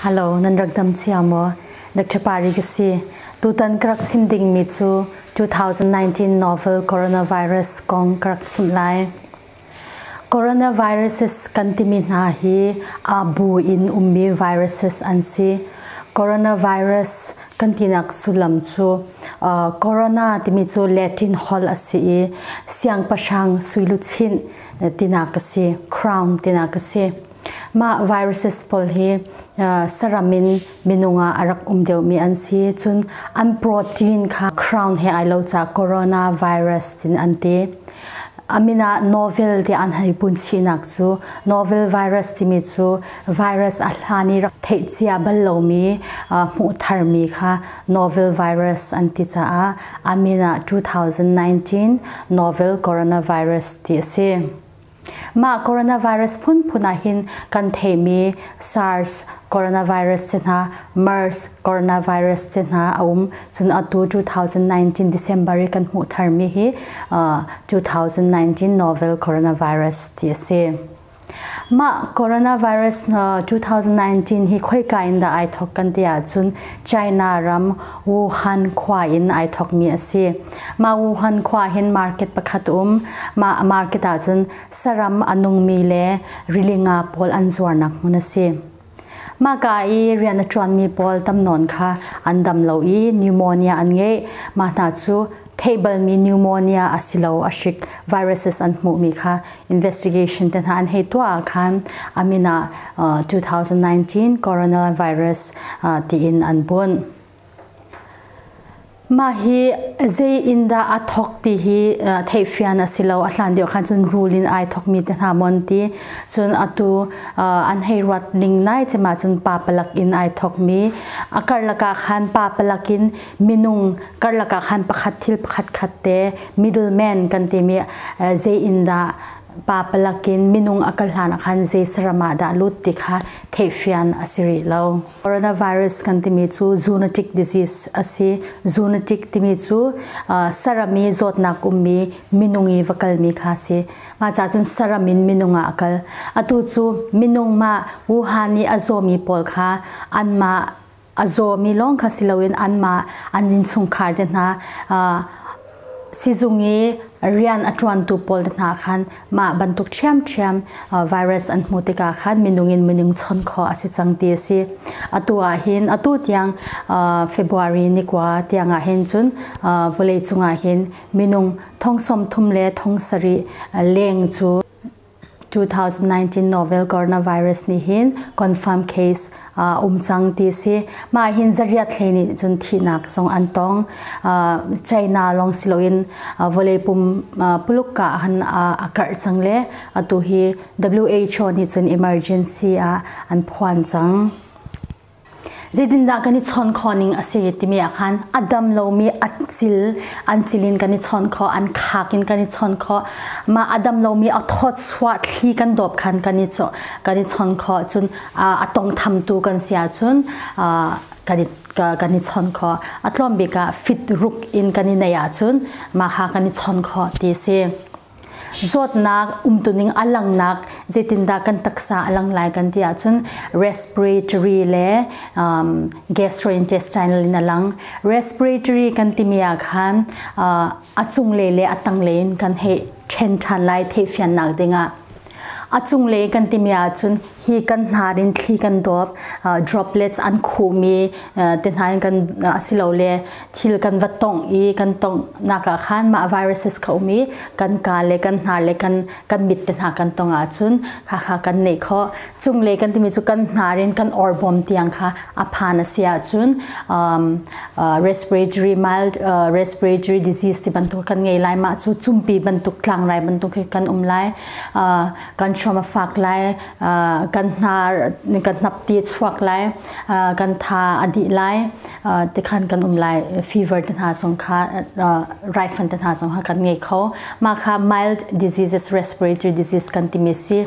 Hello, nan rak dam cia maw? Dr. Pari ka si. Tutan ka rak chim dingmi cu 2019 novel coronavirus kong ka rak chim lai. Coronaviruses kan timi hna hi aa bu in ummi viruses an si. Coronavirus kan tinak sullam cu uh, corona timi cu Latin hol a si i siangpahrang suiluchin tinak a si, crown tinak a si. Mah viruses pawl hi saram in minung ah a rak um deuhmi an si. Cun an protein kha crown he ai lo ca coronavirus tin an ti. Amina novel ti an hei punsinak cu novel virus timi cu virus a hlan i rak theihcia bal lomi hmuh tharmi kha novel virus an ti caah Amina 2019 novel coronavirus ti a si. Mah coronavirus phunphun ah hin kan theimi SARS coronavirus te hna, MERS coronavirus te hna a um. Cun atu 2019 December i kan hmuh tharmi hi uh, 2019 novel coronavirus ti a si. Mah coronavirus uh, 2019 hi khoika in dah ai thok kan ti ahcun China ram Wuhan khua in ai thokmi a si. Mah Wuhan khua hin market pakhat um. Mah market ah cun saram a nungmi le rili nga pawl an zuarnak hmun a si. Maka i rian a ṭuanmi pawl tam nawn kha an dam lo i pneumonia an ngei. Mah hna cu theih balmi pneumonia a si lo a hrik viruses an hmuhmi kha investigation te hna an hei tuah ah khan a min ah 2019 coronavirus tiin an bunh. Mah hi zei in dah a thawk ti hi theihfian a si lo. A hlan deuh khan cun rul in ai thawkmi te hna maw an ti. Cun atu an hei ruat ning lai cem ahcun papalak in ai thawkmi. A karlak ah khan papalak in minung karlak ah khan pakhat thil pakhat khat te middleman kan timi zei in dah papalak in minung a kal hlan ah khan zei saram ah dah lut ti kha theihfian a si rih lo. Coronavirus kan timi cu zoonotic disease a si. Zoonotic timi cu uh, saram i zawtnak ummi minung i va kalmi kha a si. Mah ca cun saram in minung ah a kal. Atu cu minung mah Wuhan i a zawmi pawl kha anmah a zawmi lawng kha si loin anmah an innchungkhar te hna uh, sizung i rian a ṭuantu pawl hna khan mah bantuk ṭhiamṭhiam virus an hmuh tikah khan minung in minung chawnh khawh a si cang ti a si. Atu ah hin atu tiang February ni kua tiang ah hin cun vawleicung ah hin minung thong sawm thum le thong sarih leng cu 2019 novel coronavirus nih hin confirm case uh, um cang ti si mah hin zariat thlei nih cun thihnak zong an tong uh, China long siloin uh, vole pum uh, pulukka han uh, akar chang le atu hi WHO nih cun emergency ah an phuan cang zeitindah kan i chawn khawh ning a si timi ah khan a dam lomi a cil an cil in kan i chawn khawh an khak in kan i chawn khawh ma a dam lomi a thawt suah thli kan dawp khan kan i kan i chawn khawh cun a tongtham tu kan si ahcun kan i kan i chawn kho a tlawm bik ah fit ruk in kan i neih ahcun mah ha kan i chawn kho ti si zawtnak umtuning a langnak zeitindah kan taksa a lang lai kan ti ahcun respiratory le um, gastrointestinal in a lang respiratory kan timi ah khan uh, a cunglei le a tanglei in kan hei ṭhen ṭhan lai theihfiannak dingah A cunglei kan timi ahcun hi kan hnar in thli kan dawp, droplets an khum i te hna in kan asilole thil kan va tongh i kan tonghnak ah khan mah viruses kha um i kan kaa le kan hnar le kan mit te hna kan tong ahcun khakha kan neih khawh. Cunglei kan timi cu kan hnar in kan orbawm tiang kha a phan a si ahcun uh, respiratory mild uh, respiratory disease ti bantuk kan ngei lai mah cu cumpi bantuk tlangrai bantuk khi kan um lai uh, kan hrom a fak lai uh, kan hnar kan hnap ti chuak lai uh, kan tha a di lai uh, te khan kan um lai fever te hna song kha uh, rifan te hna song ha kan ngei kho ma kha mild diseases respiratory disease kan ti me si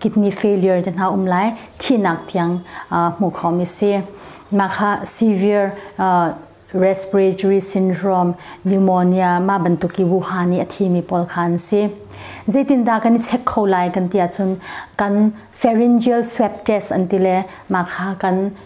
kidney failure te hna um lai thinak tiang hmuh khawmi si mah kha severe respiratory syndrome pneumonia ma bantuk i wuhan i a thimi pawl kha an si zeitindah kan i check kho lai kan ti ahcun kan pharyngeal swab test an ti le mah kha kan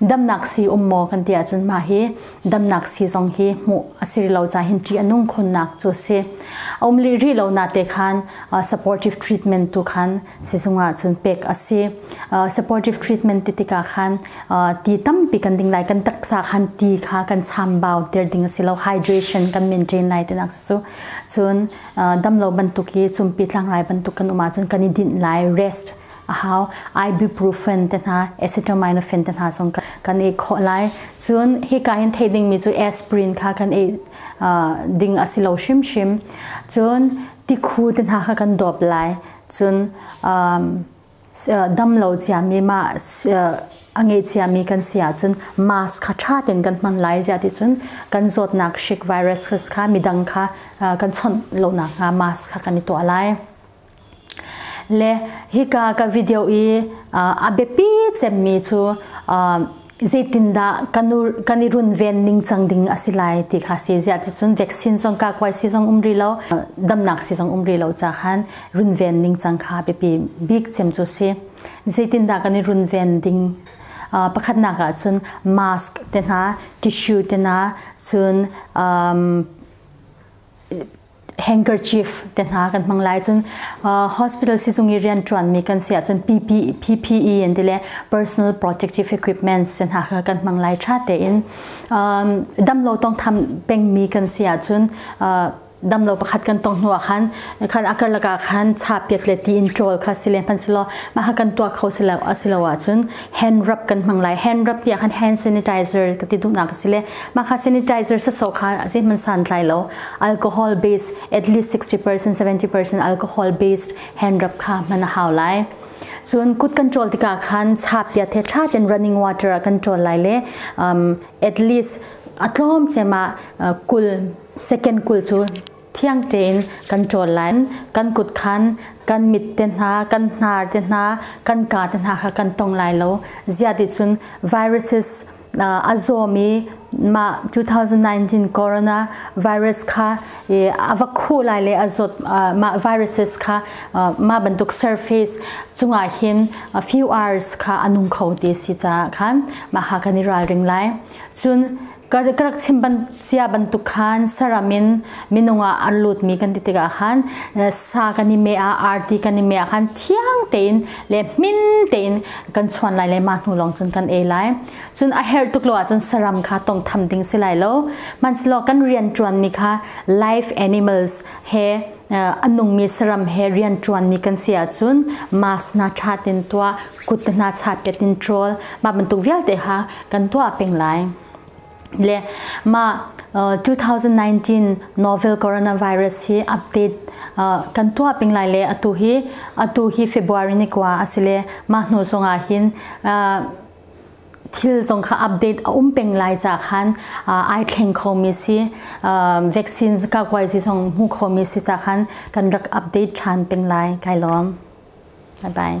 damnak sii um maw kan ti ahcun mah hi damnak sii zong hi hmuh a si lo ca hin ṭih a nung khunnak cu si a um rih rih lo na te khan supportive treatment tu khan sizung ah cun pek a si supportive treatment ti tikah khan ti tampi kan ding lai kan taksa khan ti kha kan chambau ter ding a si lo hydration kan maintain lai tinak cu cun damlo bantuk hi cumpi tlangrai bantuk kan um ahcun kan i din lai rest a hau ibuprofen te hna acetaminophen te hna zong kan i khawh lai cun hika in thei dingmi cu aspirin kha kan i ding a si lo hrimhrim cun tikhu te hna kha kan dawp lai cun damlo ciami ma a ngei ciami kan si ahcun mask kha ṭha tein kan hman lai ziati cun kan zawtnak shik virus kha midang kha kan chawnh lonak hnga mask kha kan i tuah lai Le hika ka video i a biapi cemmi cu zeitindah kan i runven ningcang ding a si lai ti kha si ziah ticun vaccine zong kakuai si zong um rih lo damnak si zong um rih lo cahan runven ningcang kha biapi bik cem cu si zeitindah kan i runven ding pakhatnak ah cun mask te hna tissue te hna cun handkerchief te hna kan hmang lai cun hospital sizung i rian ṭuanmi kan si ahcun PPE in ti le personal protective equipments se hna kha kan hmang lai ṭha tein damlo tawngtham pengmi kan si ahcun damlo pakhat kan tong hnu ah khan khan akar lakah khan chapiat le ti in ṭawl kha si le hmansilaw mah kan tuah kho silo asilo ahcun hand rub kan hmang lai hand rub tiah khan hand sanitizer ka ti duhnak a si le mah kha sanitizer sa so kha a si man san tlai lo alcohol based at least 60% 70% alcohol based hand rub kha man a hau lai cun kut kan ṭol tikah khan chapia the ṭha ten running water a kan ṭol lai le um, at least a tlawm chema kul second kul cu thiang tein kan ṭawl lai. Kan kutkhan, kan mit te hna, kan hnar te hna, kan kaa te hna kha kan tong lai lo. Ziaticun viruses a zawm i mah 2019 corona virus kha a va khuh lai le a zawt mah viruses kha mah bantuk surface cungah hin a few hours kha a nung kho ti si caah khan mah ha kan i ralring lai. Cun ka rak chim ban cia bantuk khan saram in minung ah an lut mi kan ti tikah khan sa kan i me ah arti kan i me ah khan thiang tein le min tein kan chuan lai le ma hnu lawng cun kan ei lai cun a herh tuk lo ahcun saram kha tong tham ding si lai lo man silo kan rian tuan mi kha live animals he a nungmi saram he rian ṭuanmi kan si ahcun mask hna ṭhat in tuah kut hna chapet in ṭawl mah bantuk vialte ha kan tuah peng lai le mah 2019 novel coronavirus hi update kan tuah ping lai le atu hi atu hi February ni kwa asile mah hnu zongah hin thil zong kha update a um peng lai ca khan ai thleng khomi si vaccines ka kwai si zong hmu khomi si ca khan kan rak update ṭhan peng lai kai lawm bye bye